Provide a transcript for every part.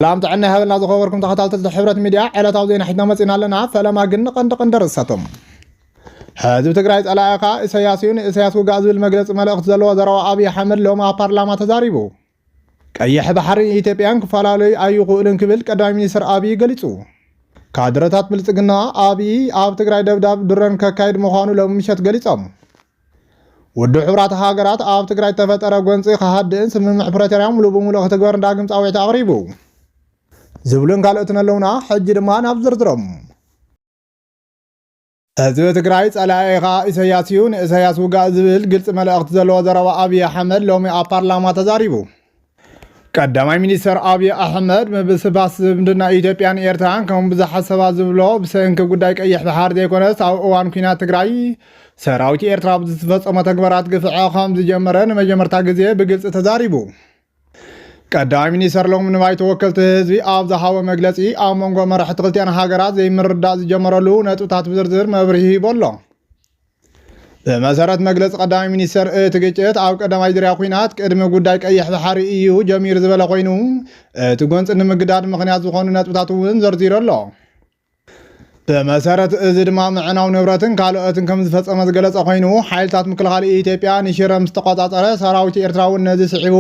ሰላም ጥዕና ይሃበልና ዝኸበርኩም ተኸታተልቲ ሕብረት ሚድያ ዕለታዊ ዜና ሒዝና መፂና ኣለና። ፈለማ ግን ንቀንዲ ቀንዲ ርእሰቶም ህዝቢ ትግራይ ጸላኢ ኸኣ ኢሰያስ እዩ ንኢሰያስ ውጋእ ዝብል መግለፂ መልእኽቲ ዘለዎ ዘረባ ኣብዪ ኣሕመድ ሎሚ ኣብ ፓርላማ ተዛሪቡ። ቀይሕ ባሕሪን ኢትዮጵያን ክፈላለዩ ኣይኽእሉን ክብል ቀዳማይ ሚኒስትር ኣብዪ ገሊጹ። ካድረታት ብልጽግና ኣብዪ ኣብ ትግራይ ደብዳብ ድሮን ከካይድ ምዃኑ ሎሚ ምሸት ገሊጾም። ውድብ ሕቡራት ሃገራት ኣብ ትግራይ ዝተፈጠረ ጎንፂ ክሃድእን ስምምዕ ፕረቶርያ ሙሉእ ብሙሉእ ክትግበርን ዳግም ፃዊዕት ኣቕሪቡ ዝብሉን ካልኦትን ኣለውና ሕጂ ድማ ናብ ዝርዝሮም ህዝቢ ትግራይ ጸላኢ ኸኣ ኢሰያስ እዩ ንእሰያስ ውጋእ ዝብል ግልፂ መልእኽቲ ዘለዎ ዘረባ ኣብዪ ኣሕመድ ሎሚ ኣብ ፓርላማ ተዛሪቡ ቀዳማይ ሚኒስተር ኣብዪ ኣሕመድ ምብስባስ ዝምድና ኢትዮጵያን ኤርትራን ከም ብዙሓት ሰባት ዝብሎ ብሰንኪ ጉዳይ ቀይሕ ባሕር ዘይኮነስ ኣብ እዋን ኩናት ትግራይ ሰራዊት ኤርትራ ኣብ ዝተፈጸሞ ተግባራት ግፍዐ ከም ዝጀመረ ንመጀመርታ ግዜ ብግልፂ ተዛሪቡ። ቀዳማይ ሚኒስተር ሎሚ ንባይቶ ወከልቲ ህዝቢ ኣብ ዝሃቦ መግለፂ ኣብ መንጎ መራሕቲ ክልቲኣን ሃገራት ዘይምርዳእ ዝጀመረሉ ነጥብታት ብዝርዝር መብርሂ ሂቦ ኣሎ። ብመሰረት መግለፂ ቀዳማይ ሚኒስተር እቲ ግጭት ኣብ ቀዳማይ ዙርያ ኩናት ቅድሚ ጉዳይ ቀይሕ ባሕሪ እዩ ጀሚሩ ዝበለ ኮይኑ እቲ ጎንፂ ንምግዳድ ምክንያት ዝኾኑ ነጥብታት እውን ዘርዚሩ ኣሎ። ብመሰረት እዚ ድማ ምዕናው ንብረትን ካልኦትን ከም ዝፈፀመ ዝገለፀ ኮይኑ ሓይልታት ምክልኻል ኢትዮጵያ ንሽረ ምስ ተቆፃፀረ ሰራዊት ኤርትራ እውን ነዚ ስዒቡ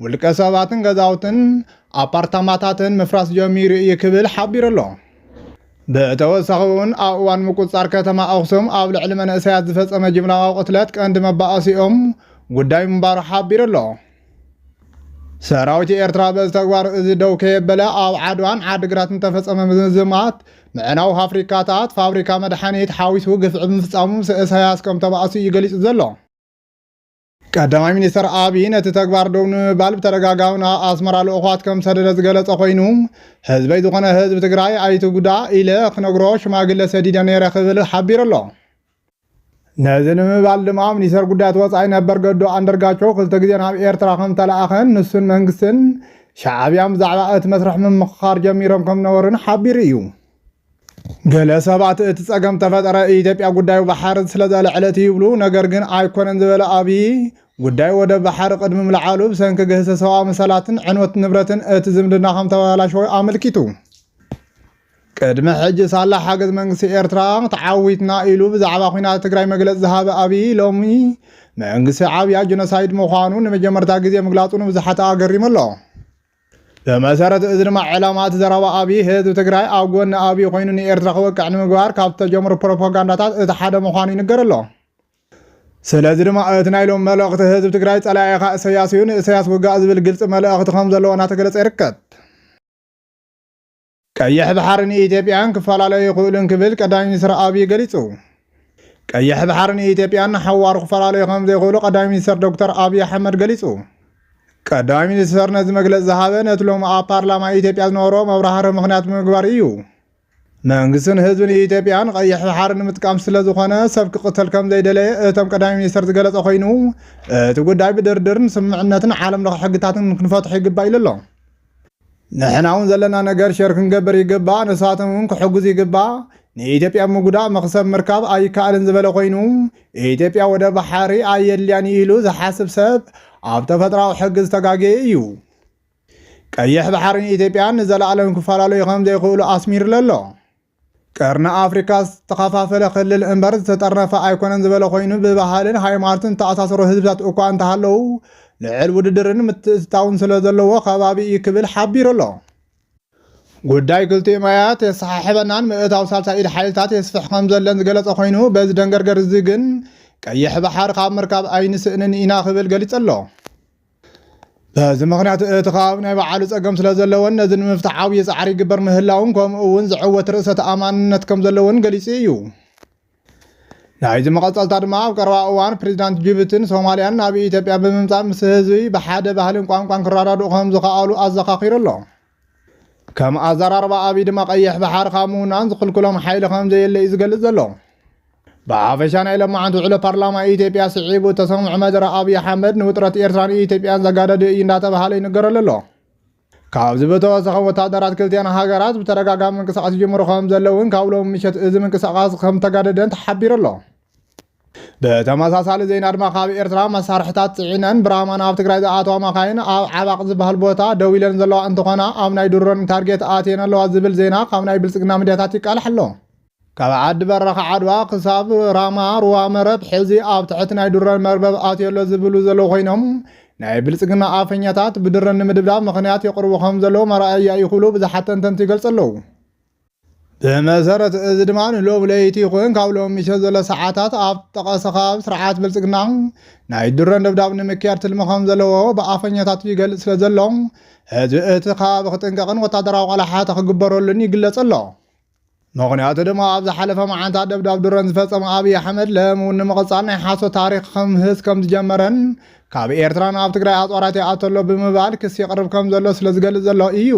ውልቀ ሰባትን ገዛውትን ኣፓርታማታትን ምፍራስ ጀሚሩ እዩ ክብል ሓቢሩ ኣሎ። ብተወሳኺውን ኣብ እዋን ምቁፅፃር ከተማ ኣኽሱም ኣብ ልዕሊ መንእሰያት ዝፈፀመ ጅምላዊ ቅትለት ቀንዲ መባኣሲኦም ጉዳይ ምንባሩ ሓቢሩ ኣሎ። ሰራዊት ኤርትራ በዚ ተግባር እዚ ደው ከየበለ ኣብ ዓድዋን ዓድግራት እንተፈፀመ ምዝማት ምዕናው ፋፍሪካታት ፋብሪካ መድሓኒት ሓዊሱ ግፍዒ ምፍፃሙ ምስ እሳያስ ከም ተባእሱ እዩ ገሊፁ ዘሎ። ቀዳማይ ሚኒስተር ኣብዪ ነቲ ተግባር ደው ንምባል ብተደጋጋሚ ናብ ኣስመራ ልእኳት ከም ሰደደ ዝገለጸ ኮይኑ ህዝበይ ዝኾነ ህዝቢ ትግራይ ኣይትጉዳእ ኢለ ክነግሮ ሽማግለ ሰዲደ ነይረ ክብል ሓቢሩ ኣሎ። ነዚ ንምባል ድማ ሚኒስተር ጉዳያት ወፃኢ ነበር ገዱ ኣንደርጋቸው ክልተ ግዜ ናብ ኤርትራ ከም ተለኣኸን ንሱን መንግስትን ሻዕብያን ብዛዕባ እቲ መስርሕ ምምኽኻር ጀሚሮም ከም ነበሩን ሓቢሩ እዩ። ገለ ሰባት እቲ ጸገም ተፈጠረ ኢትዮጵያ ጉዳዩ ባሕር ስለዘልዕለት እዩ ይብሉ። ነገር ግን ኣይኮነን ዝበለ ኣብዪ፣ ጉዳይ ወደብ ባሕር ቅድሚ ምልዓሉ ብሰንኪ ግህሰት ሰብኣዊ መሰላትን ዕንወት ንብረትን እቲ ዝምድና ከም ተበላሸወ ኣመልኪቱ። ቅድሚ ሕጂ ሳላ ሓገዝ መንግስቲ ኤርትራ ተዓዊትና ኢሉ ብዛዕባ ኲናት ትግራይ መግለጺ ዝሃበ ኣብዪ ሎሚ መንግስቲ ዓብያ ጀኖሳይድ ምዃኑ ንመጀመርታ ግዜ ምግላጹ ንብዙሓት ኣገሪሙ ኣሎ። ብመሰረት እዚ ድማ ዕላማ እቲ ዘረባ ኣብይ ህዝቢ ትግራይ ኣብ ጎኒ ኣብይ ኮይኑ ንኤርትራ ክወቅዕ ንምግባር ካብ ዝተጀምሩ ፕሮፓጋንዳታት እቲ ሓደ ምዃኑ ይንገር ኣሎ። ስለዚ ድማ እቲ ናይ ሎም መልእኽቲ ህዝቢ ትግራይ ጸላኢኻ እሰያስ እዩ ንእሰያስ ውጋእ ዝብል ግልጺ መልእኽቲ ከምዘለዎ እናተገለጸ ይርከብ። ቀይሕ ባሕሪ ንኢትዮጵያን ክፈላለዩ ኣይኽእሉን ክብል ቀዳማይ ሚኒስትር ኣብዪ ገሊጹ። ቀይሕ ባሕሪ ንኢትዮጵያን ንሓዋሩ ክፈላለዩ ከም ዘይኽእሉ ቀዳማይ ሚኒስትር ዶክተር ኣብዪ ኣሕመድ ገሊጹ። ቀዳማይ ሚኒስትር ነዚ መግለጺ ዝሃበ ነቲ ሎሚ ኣብ ፓርላማ ኢትዮጵያ ዝነበሮ መብራህርሂ ምኽንያት ብምግባር ኢዩ። መንግስትን ህዝብን ኢትዮጵያ ንቀይሕ ባሕሪ ንምጥቃም ስለ ዝኾነ ሰብ ክቕተል ከም ዘይደለየ እቶም ቀዳማይ ሚኒስትር ዝገለጸ ኮይኑ እቲ ጉዳይ ብድርድርን ስምምዕነትን ዓለም ለኸ ሕግታትን ክንፈትሖ ይግባእ ኢሉ ኣሎ። ንሕና እውን ዘለና ነገር ሸር ክንገብር ይግባእ፣ ንሳቶም እውን ክሕግዙ ይግባእ። ንኢትዮጵያ ምጉዳእ መኽሰብ ምርካብ ኣይከኣልን ዝበለ ኮይኑ ኢትዮጵያ ወደ ባሓሪ ኣየድልያን እዩ ኢሉ ዝሓስብ ሰብ ኣብ ተፈጥራዊ ሕጊ ዝተጋገየ እዩ። ቀይሕ ባሕርን ኢትዮጵያን ንዘለኣለም ክፈላለዩ ከም ዘይኽእሉ ኣስሚርሉ ኣሎ። ቀርኒ ኣፍሪካ ዝተኸፋፈለ ክልል እምበር ዝተጠርነፈ ኣይኮነን ዝበለ ኮይኑ ብባህልን ሃይማኖትን ዝተኣሳሰሩ ህዝብታት እኳ እንተሃለዉ ልዕል ውድድርን ምትእትታውን ስለ ዘለዎ ከባቢ እዩ ክብል ሓቢሩ ኣሎ። ጉዳይ ክልቲኡ ማያት የሰሓሕበናን ምእታው ሳልሳይ ኢድ ሓይልታት የስፍሕ ከም ዘለን ዝገለጸ ኮይኑ በዚ ደንገርገር እዚ ግን ቀይሕ ባሕር ካብ ምርካብ ኣይንስእንን ኢና ክብል ገሊጹ ኣሎ። በዚ ምክንያት እቲ ከባቢ ናይ ባዕሉ ጸገም ስለ ዘለዎን ነዚ ንምፍታሕ ዓብዪ ጻዕሪ ይግበር ምህላውን ከምኡ እውን ዝዕወት ርእሰ ተኣማንነት ከም ዘለዎን ገሊጹ እዩ። ናይዚ መቐጸልታ ድማ ኣብ ቀረባ እዋን ፕሬዚዳንት ጅቡቲን ሶማሊያን ናብ ኢትዮጵያ ብምምፃእ ምስ ህዝቢ ብሓደ ባህልን ቋንቋን ክረዳድኡ ከም ዝኸኣሉ ኣዘኻኺሩ ኣሎ። ከም ኣዘራርባ ኣብይ ድማ ቀይሕ ባሕሪ ካብ ምውናን ዝኽልክሎም ሓይሊ ከም ዘየለ እዩ ዝገልጽ ዘሎ ብሓፈሻ ናይ ለማዓንቲ ውዕሎ ፓርላማ ኢትዮጵያ ስዒቡ ተሰምዑ መደረ ኣብዪ ኣሕመድ ንውጥረት ኤርትራን ኢትዮጵያን ዘጋደደ እዩ እንዳተባሃለ ይንገረሉ ኣሎ። ካብዚ ብተወሰኸ ወታደራት ክልቲኣን ሃገራት ብተደጋጋሚ ምንቅስቃስ ይጅምሩ ከም ዘለውን ካብ ሎሚ ምሸት እዚ ምንቅስቃስ ከም ተጋደደን ተሓቢሩ ኣሎ። ብተመሳሳሊ ዜና ድማ ካብ ኤርትራ መሳርሕታት ፅዒነን ብራማ ናብ ትግራይ ዝኣተዋ መኻይን ኣብ ዓባቕ ዝበሃል ቦታ ደው ኢለን ዘለዋ እንትኾና ኣብ ናይ ድሮን ታርጌት ኣትየን ኣለዋ ዝብል ዜና ካብ ናይ ብልፅግና ሚዲያታት ይቃላሕ ኣሎ። ካብ ዓዲ በረኻ ዓድዋ ክሳብ ራማ ሩባ መረብ ሕዚ ኣብ ትሕቲ ናይ ድሮን መርበብ ኣትዮ ኣሎ ዝብሉ ዘለዉ ኮይኖም ናይ ብልጽግና ኣፈኛታት ብድሮን ንምድብዳብ ምኽንያት የቕርቡ ከም ዘለዉ መርኣያ እዩ ክብሉ ብዙሓት ተንተንቲ ይገልጹ ኣለዉ። ብመሰረት እዚ ድማ ንሎሚ ለይቲ ይኹን ካብ ሎሚ ምሸት ዘሎ ሰዓታት ኣብ ጠቐሰ ከባቢ ስርዓት ብልፅግና ናይ ድሮን ደብዳብ ንምክያድ ትልሚ ከም ዘለዎ ብኣፈኛታቱ ይገልፅ ስለ ዘሎ ህዝቢ እቲ ከባቢ ክጥንቀቕን ወታደራዊ ቆላሓተ ክግበረሉን ይግለፅ ኣሎ። ምክንያቱ ድማ ኣብ ዝሓለፈ መዓንታት ደብዳብ ድሮን ዝፈፀመ ኣብዪ ኣሕመድ ለም እውን ንምቕፃል ናይ ሓሶት ታሪክ ከምህዝ ከም ዝጀመረን ካብ ኤርትራ ናብ ትግራይ ኣፅዋራት ይኣቶ ኣሎ ብምባል ክሲ የቕርብ ከም ዘሎ ስለ ዝገልፅ ዘሎ እዩ።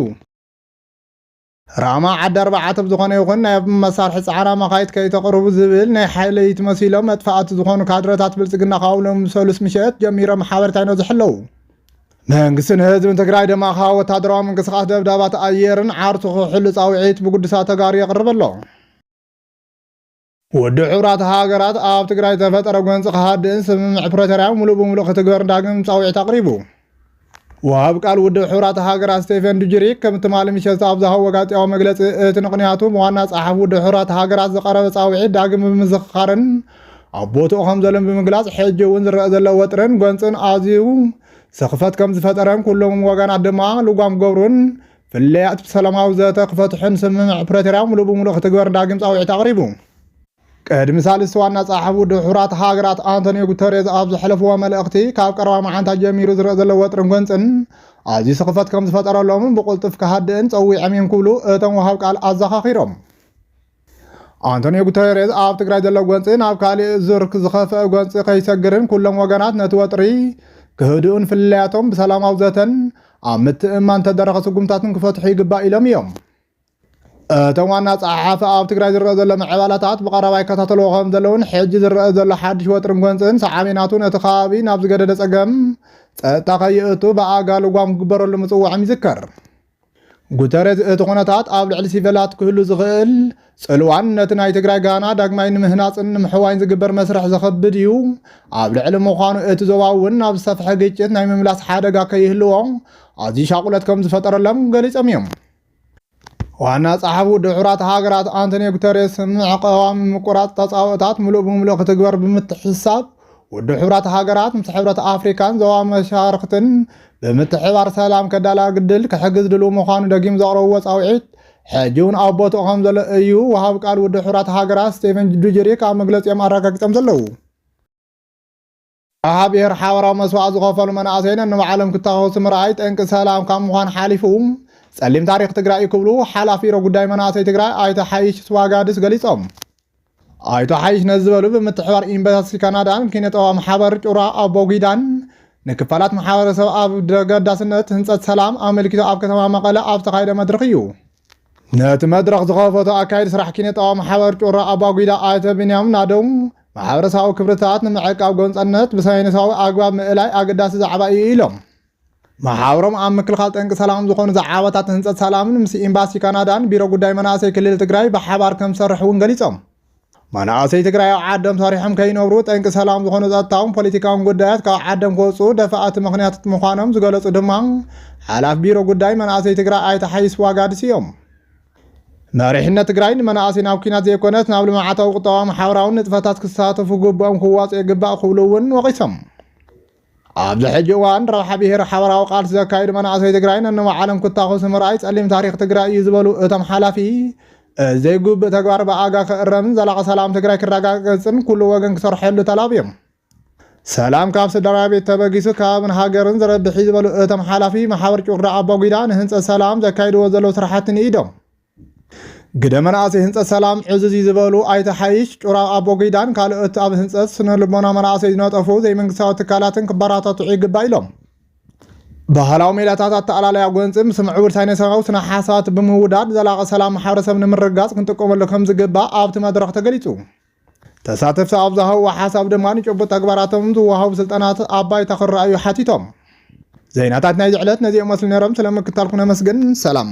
ራማ ዓዲ ኣርባዓት ብ ዝኾነ ይኹን ናይ ብ መሳርሒ ጻዕራ መኻይት ከይተቅርቡ ዝብል ናይ ሓይለይት መሲሎም መጥፋኣቲ ዝኾኑ ካድረታት ብልጽግና ካብ ሎሚ ሰሉስ ምሸት ጀሚሮም ሓበሬታ ይነዝሑ ኣለዉ። መንግስትን ህዝብን ትግራይ ድማ ካብ ወታደራዊ ምንቅስቃስ ደብዳባት ኣየርን ዓርሱ ክሕሉ ጻውዒት ብጉድሳት ተጋሩ የቅርብ ኣሎ። ውድብ ሕቡራት ሃገራት ኣብ ትግራይ ዝተፈጠረ ጎንፂ ክሃድእን ስምምዕ ፕሪቶርያ ሙሉእ ብሙሉእ ክትግበር ዳግም ፃውዒት ኣቕሪቡ። ወሃብ ቃል ውድብ ሕቡራት ሃገራት ስቴፈን ዱጅሪክ ከም ትማሊ ምሸት ኣብ ዝሃቦ ጋዜጣዊ መግለፂ እቲ ምኽንያቱ ብዋና ፀሓፊ ውድብ ሕቡራት ሃገራት ዝቐረበ ፃውዒት ዳግም ብምዝኽኻርን ኣብ ቦትኡ ከም ዘሎን ብምግላፅ ሕጂ እውን ዝረአ ዘሎ ወጥርን ጎንፅን ኣዝዩ ስኽፈት ከም ዝፈጠረን ኩሎም ወገናት ድማ ልጓም ክገብሩን ፍልልያት ብሰላማዊ ዘተ ክፈትሑን ስምምዕ ፕረቶርያ ሙሉእ ብሙሉእ ክትግበር ዳግም ፃውዒት ኣቕሪቡ። ቅድሚ ሳልስቲ ዋና ጸሓፊ ውድብ ሕቡራት ሃገራት ኣንቶኒዮ ጉተሬዝ ኣብ ዘሕለፍዎ መልእኽቲ ካብ ቀረባ መዓንታት ጀሚሩ ዝረአ ዘሎ ወጥርን ጎንፅን ኣዝዩ ስኽፈት ከም ዝፈጠረሎምን ብቕልጡፍ ክሃድእን ጸዊዖም እዮም ክብሉ እቶም ወሃብ ቃል ኣዘኻኺሮም። ኣንቶኒዮ ጉተሬዝ ኣብ ትግራይ ዘሎ ጎንፂ ናብ ካሊእ ዙር ዝኸፍአ ጎንፂ ከይሰግርን ኩሎም ወገናት ነቲ ወጥሪ ክህድኡን ፍልልያቶም ብሰላማዊ ዘተን ኣብ ምትእምማን ተደረኸ ስጉምታትን ክፈትሑ ይግባእ ኢሎም እዮም እቶም ዋና ፀሓሓፊ ኣብ ትግራይ ዝረአ ዘሎ ምዕባላታት ብቐረባ ይከታተልዎ ከም ዘለውን ሕጂ ዝረአ ዘሎ ሓድሽ ወጥርን ጎንፅን ሰዓሚናቱ ነቲ ከባቢ ናብ ዝገደደ ፀገም ፀጥታ ከይእቱ ብኣጋ ልጓም ክግበረሉ ምፅዋዕም ይዝከር ጉተሬዝ እቲ ኩነታት ኣብ ልዕሊ ሲቨላት ክህሉ ዝኽእል ጽልዋን ነቲ ናይ ትግራይ ጋና ዳግማይ ንምህናጽን ንምሕዋይን ዝግበር መስርሕ ዘኸብድ እዩ ኣብ ልዕሊ ምዃኑ እቲ ዞባ እውን ናብ ዝሰፍሐ ግጭት ናይ ምምላስ ሓደጋ ከይህልዎ ኣዝዩ ሻቁለት ከም ዝፈጠረሎም ገሊጾም እዮም። ዋና ጸሓፊ ውድብ ሕቡራት ሃገራት ኣንቶኒዮ ጉተሬስ ምዕቀባ ምቁራጽ ተጻብኦታት ምሉእ ብምሉእ ክትግበር ብምትሕስሳብ ውድብ ሕብራት ሃገራት ምስ ሕብረት ኣፍሪካን ዞባ መሻርክትን ብምትሕባር ሰላም ከዳላግድል ክሕግዝ ድልው ምዃኑ ደጊም ዘቕረብዎ ፃውዒት ሕጂ እውን ኣብ ቦትኡ ከም ዘሎ እዩ ወሃብ ቃል ውድብ ሕራት ሃገራት ስቴቨን ዱጀሪክ ኣብ መግለፂኦም ኣረጋጊፆም ዘለዉ ኣብ ብሔር ሓበራዊ መስዋዕት ዝኸፈሉ መናእሰይ ነንባዕሎም ክተኸሱ ምርኣይ ጠንቂ ሰላም ካብ ምዃን ሓሊፉ ፀሊም ታሪክ ትግራይ ክብሉ ሓላፊ ሮ ጉዳይ መናእሰይ ትግራይ ኣይተ ሓይሽ ስዋጋድስ ገሊፆም ኣይተ ሓይሽ ነዚ ዝበሉ ብምትሕባር ዩኒቨርሲቲ ካናዳን ኪነጠባ ማሕበር ጩራ ኣቦጊዳን ንክፋላት ማሕበረሰብ ኣብ ደገዳስነት ህንፀት ሰላም ኣመልኪቶ ኣብ ከተማ መቐለ ኣብ ዝተኻየደ መድረኽ እዩ ነቲ መድረኽ ዝኸፈቱ ኣካይድ ስራሕ ኪነጣዊ ማሕበር ጩራ ኣባጒዳ ኣይተ ብንያም ናደው ማሕበረሰባዊ ክብርታት ንምዕቃብ ጎንፀነት ብሳይንሳዊ ኣግባብ ምእላይ ኣገዳሲ ዛዕባ እዩ ኢሎም መሓውሮም ኣብ ምክልኻል ጠንቂ ሰላም ዝኾኑ ዛዕባታት ህንፀት ሰላምን ምስ ኤምባሲ ካናዳን ቢሮ ጉዳይ መናእሰይ ክልል ትግራይ ብሓባር ከም ዝሰርሕ እውን ገሊፆም። መናእሰይ ትግራይ ኣብ ዓዶም ሰሪሖም ከይነብሩ ጠንቂ ሰላም ዝኾኑ ጸጥታውን ፖለቲካውን ጉዳያት ካብ ዓዶም ክወፅኡ ደፋእቲ ምኽንያትት ምዃኖም ዝገለፁ ድማ ሓላፍ ቢሮ ጉዳይ መናእሰይ ትግራይ ኣይተ ሓይስ ዋጋድስ እዮም። መሪሕነት ትግራይ ንመናእሰይ ናብ ኩናት ዘይኮነስ ናብ ልምዓታዊ ቁጠባዊ ማሕበራውን ንጥፈታት ክሳተፉ ግብኦም ክዋፅኡ ይግባእ ክብሉ እውን ወቒሶም። ኣብዚ ሕጂ እዋን ረብሓ ብሄር ሓበራዊ ቃልሲ ዘካይዱ መናእሰይ ትግራይ ነንባዕሎም ክታኾሱ ምርኣይ ጸሊም ታሪኽ ትግራይ እዩ ዝበሉ እቶም ሓላፊ እዚ ዘይጉብእ ተግባር ብኣጋ ክእረምን ዘላቒ ሰላም ትግራይ ክረጋገፅን ኩሉ ወገን ክሰርሐሉ ተላብዮም። ሰላም ካብ ስድራ ቤት ተበጊሱ ከባብን ሃገርን ዝረብሕ እዩ ዝበሉ እቶም ሓላፊ ማሕበር ጩራ ኣባጒዳ ንህንፀት ሰላም ዘካይድዎ ዘለዉ ስራሕቲ ንኢዶም ግደ መናእሰይ ህንፀት ሰላም ዕዝዝ እዩ ዝበሉ ኣይተ ሓይሽ ጩራ ኣቦጊዳን ካልኦት ኣብ ህንፀት ስነ ልቦና መናእሰይ ዝነጠፉ ዘይመንግስታዊ ትካላትን ክበራታትዑ ይግባእ ኢሎም። ባህላዊ ሜላታት ኣተኣላለያ ጎንፂ ምስ ምዕቡል ሳይንሳዊ ስነ ሓሳባት ብምውዳድ ዘላቒ ሰላም ማሕበረሰብ ንምርግጋፅ ክንጥቀመሉ ከም ዝግባእ ኣብቲ መድረኽ ተገሊፁ። ተሳተፍቲ ኣብ ዝሃብዎ ሓሳብ ድማ ንጭቡጥ ተግባራቶም ዝወሃቡ ስልጠናት ኣብ ባይታ ክረኣዩ ሓቲቶም። ዜናታት ናይዚ ዕለት ነዚኦም መስሉ ነይሮም። ስለምክታልኩም ነመስግን። ሰላም